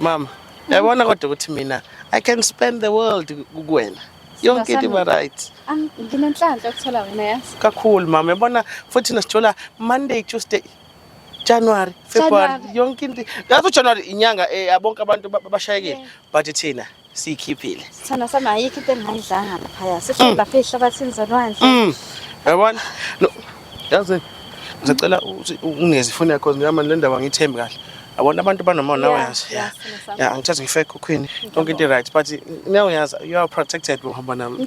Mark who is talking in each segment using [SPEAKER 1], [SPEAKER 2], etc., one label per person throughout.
[SPEAKER 1] Mama, yabona kodwa ukuthi mina I can spend the world kukwena. Yonke into iba right. Nginenhlanhla
[SPEAKER 2] ukuthola wena yazi. Kakhulu mama, yabona
[SPEAKER 1] futhi nasithola Monday, Tuesday, January, February, yonke into. Ngathi January inyanga eh abonke abantu bashayekile but thina siyikhiphile Sithanda sami ayikho
[SPEAKER 2] into engayidlanga laphaya. Sifike Mm. lapha ehlabathini zolwandle. Mm. yabona
[SPEAKER 1] no yazi ngisacela uthi ungezi ifoni yakho ngiyama le ndaba ngithembi kahle yabona abantu banomona nawe Yeah, yazi yeah, yeah sithanda sami. yeah angithathi ngifake ukhukhwini yonke into right but now yazi you are protected uhamba nami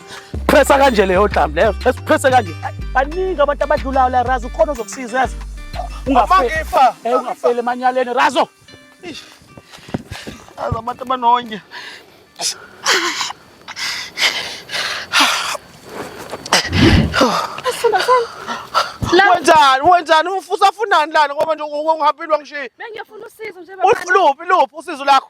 [SPEAKER 3] Pressa kanje leyo dlam leyo. Pressa kanje. Baningi abantu abadlulayo la Razo ukhona ozokusiza yazi. Ungafa.
[SPEAKER 1] Eh ungafeli
[SPEAKER 3] emanyaleni Razo.
[SPEAKER 1] Aza abantu abanonya. Wenzani wenzani ufusa funani lana ngoba nje ungihaphilwa ngishiye. Bengiyofuna usizo nje
[SPEAKER 2] baba. Uluphi luphi usizo
[SPEAKER 1] lakho?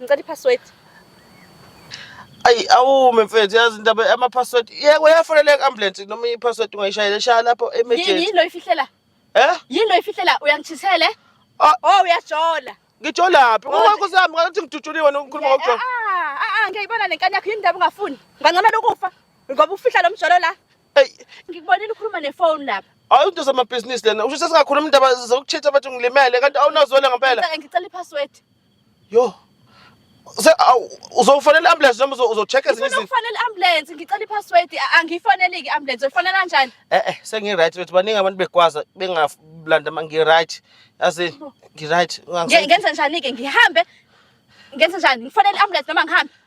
[SPEAKER 2] Ngicela i-password. Ayi
[SPEAKER 1] awume mfethu yazi indaba ama password. Yeke uyafonela i-ambulance noma i-password ungayishayela shaya lapho Yini emergency. yini lo ifihlela?
[SPEAKER 2] Eh? Yini lo ifihlela? Uyangichisele? Ah. Oh uyajola. Ngijolaphi?
[SPEAKER 1] Kodwa- Ngoba kusami ngathi ngidutshuliwe nokukhuluma Yeah, ngokujola. ah, ah, ah, ngiyayibona
[SPEAKER 2] le nkani yakho yini ndaba ungafuni ngangcamela ukufa ngoba ufihla lo mjolo la Ey, ngikubonile ukhuluma nefoni lapha hayi into zamabhizinisi
[SPEAKER 1] lena. Usho sesingakhuluma indaba zokuchitha bathi ngilimele kanti awunazwela ngempela. Ngicela- ngicela i-password
[SPEAKER 2] Yo.
[SPEAKER 1] Se uzofanele ambulance noma uzocheck ezinye izinto. Uzofanele ambulance ngicela
[SPEAKER 2] ipassword angiyifanele ke ambulance uyifanele kanjani? Eh eh sengi right wethu
[SPEAKER 1] baningi abantu begwaza bengalanda mangi right. Yazi ngi right. Ngenza njani ke
[SPEAKER 2] ngihambe? Ngenza njani? Ngifanele ambulance noma ngihambe?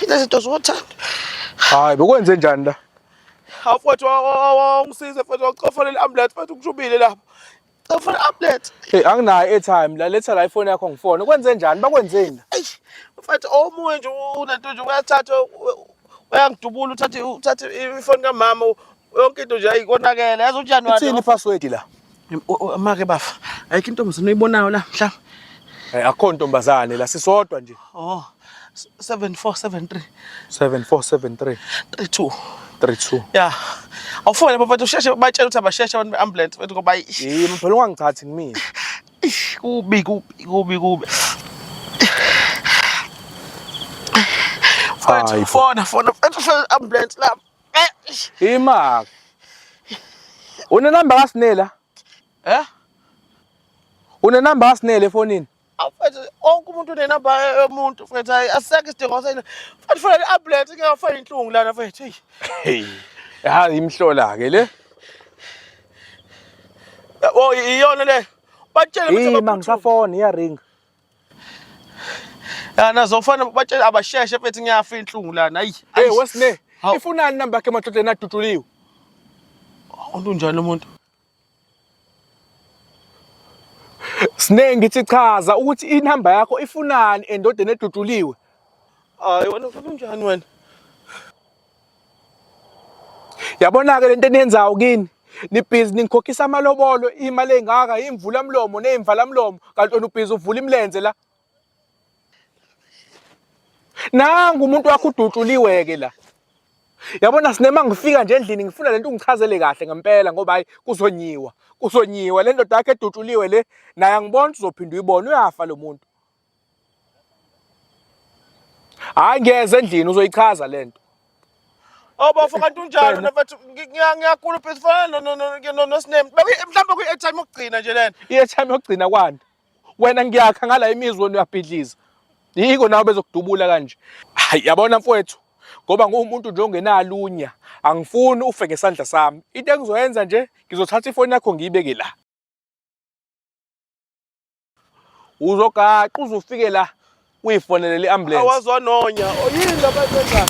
[SPEAKER 1] Lezi zinto zothanda. Hayi
[SPEAKER 4] bekwenze njani la? Afwethu
[SPEAKER 1] ungisize futhi wakucofolela ambulance futhi ukushubile lapho. Cofona ambulance. Hey anginayo airtime
[SPEAKER 4] la letha la ifoni yakho ngifone. Kwenze njani? Bakwenzeni? Eish. Mfethu
[SPEAKER 1] omunye nje unento nje uyathatha uyangidubula uthathe uthathe ifoni kamama yonke into nje ayikonakele yazi uJanuary. Ithini password la?
[SPEAKER 4] Make
[SPEAKER 1] bafa, ayikho intombazane oyibonayo la
[SPEAKER 4] mhla.
[SPEAKER 1] Eh akho
[SPEAKER 4] ntombazane la
[SPEAKER 1] sisodwa
[SPEAKER 4] nje.
[SPEAKER 1] Oh. 7473 7473 32 32
[SPEAKER 4] yeah
[SPEAKER 1] awufone bafethu usheshe batshela ukuthi abasheshe abantu beambulance bafethu ngoba yimi phela ungangithathi
[SPEAKER 4] ngimile kubi
[SPEAKER 1] kubi kubi kubi
[SPEAKER 4] fona fona fethu
[SPEAKER 1] ambulance lapha Imaka.
[SPEAKER 4] Une number kaSinela? Eh? Une number kaSinela efonini? Afethu onke
[SPEAKER 1] umuntu une number yomuntu fethu hayi asekho isidingo sena. Fethu funa i-ambulance ngeke afake inhlungu lana fethu. Hey.
[SPEAKER 4] Yazi imhlola ke le.
[SPEAKER 1] Oh iyona le. Batshele ukuthi ngisafona iya
[SPEAKER 4] ring.
[SPEAKER 1] Ya nazofana batshela abasheshe mfethu ngiyafa inhlungu lana. Ayi. Hey wesine.
[SPEAKER 4] Ifunani namba yakhe emadlodleni aduduliwe.
[SPEAKER 1] Umuntu njani umuntu?
[SPEAKER 4] Sine ngithi chaza ukuthi inamba yakho ifunani endodeni eduduliwe. Hayi
[SPEAKER 1] wena ufuna unjani wena?
[SPEAKER 4] yabona-ke le nto eniyenzayo kini nibhizi ningikhokhisa amalobolo imali engaka imvula mlomo neyimvala mlomo kanti wena ubhizi uvula imilenze la nangu umuntu wakho udutshuliwe-ke la yabona sinema ngifika nje endlini ngifuna lento ungichazele kahle ngempela ngoba hayi kuzonyiwa kuzonyiwa le ndoda yakhe edutshuliwe le naye angibona uzophinda uyibona uyafa lo muntu hayi ngeze endlini uzoyichaza le nto
[SPEAKER 1] obafo oh, kanti unjalo nafethu ngiyakhulupha sifana nosinem mhlawumbe kwi-airtime yokugcina nje lena i-airtime yokugcina kwani
[SPEAKER 4] wena ngiyakha ngala imizwa wena uyabhidliza yiko nawe bezokudubula kanje hayi yabona mfowethu ngoba nguwumuntu nje ongenalunya angifuni ufe ngesandla sami into engizoyenza nje ngizothatha ifoni yakho ngiyibeke la uzogaqa uze ufike la uyifonele le ambulance awazwa nonya oyini
[SPEAKER 1] labayenza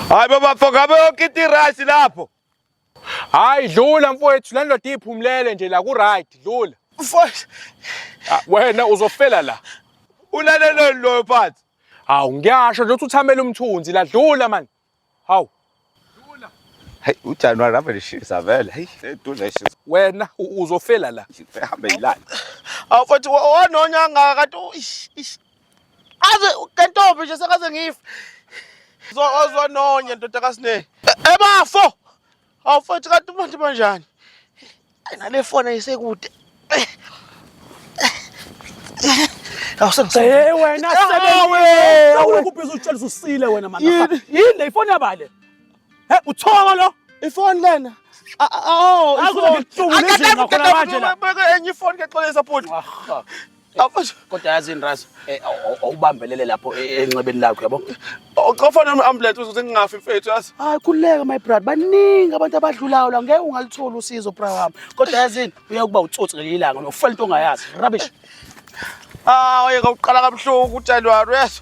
[SPEAKER 1] hayi baba foka yonke into iright lapho hayi
[SPEAKER 4] dlula mfowethu le ndoda iphumulele nje la ku-right dlula mfowethu
[SPEAKER 1] ah,
[SPEAKER 4] wena uzofela la ulaleleni
[SPEAKER 1] loyo phansi hawu ngiyasho
[SPEAKER 4] nje uthi uthamela umthunzi la dlula mani Hawu. Dula. Hey
[SPEAKER 5] uJanuary ave lishisa vele. Hey edula ishisa. Wena
[SPEAKER 4] uzofela la. Hambe yilana.
[SPEAKER 5] Awu futhi
[SPEAKER 1] wanonya kangaka kanti aze kentombi nje sekaze ngife. Zozwa nonya ndoda kaSne. Ebafo. Hawu futhi kanti umuntu banjani? Nale foni ayisekude.
[SPEAKER 3] Hey wena sebenzi. Awukubhiza utshelisa usile wena manje. Yini le ifoni yabale? He uthoko lo? Ifoni lena.
[SPEAKER 1] Oh, ifoni.
[SPEAKER 3] Akadabukela manje la. Beka enye ifoni ke xolisa
[SPEAKER 1] bhuti. Awufuthi Kodwa yazi yini
[SPEAKER 3] Razo, eh, aw- aw- awubambelele lapho e- enxebeni lakho yabo. awuqofana
[SPEAKER 1] no-ambulance ukuthi ngingafi mfethu yazi. Hayi khululeka my brother,
[SPEAKER 3] baningi abantu abadlulayo la ngeke ungaluthola usizo bra wami. Kodwa yazi yini, uya kuba utsotsi ngelinye ilanga, uyofela into ongayazi. Rubbish. Ah,
[SPEAKER 1] oyeka uqala kabuhlungu uJanuary yazi.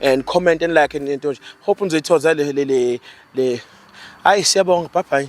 [SPEAKER 1] and comment and like and into nje hope nizoyithoza le le le le hayi siyabonga bye bye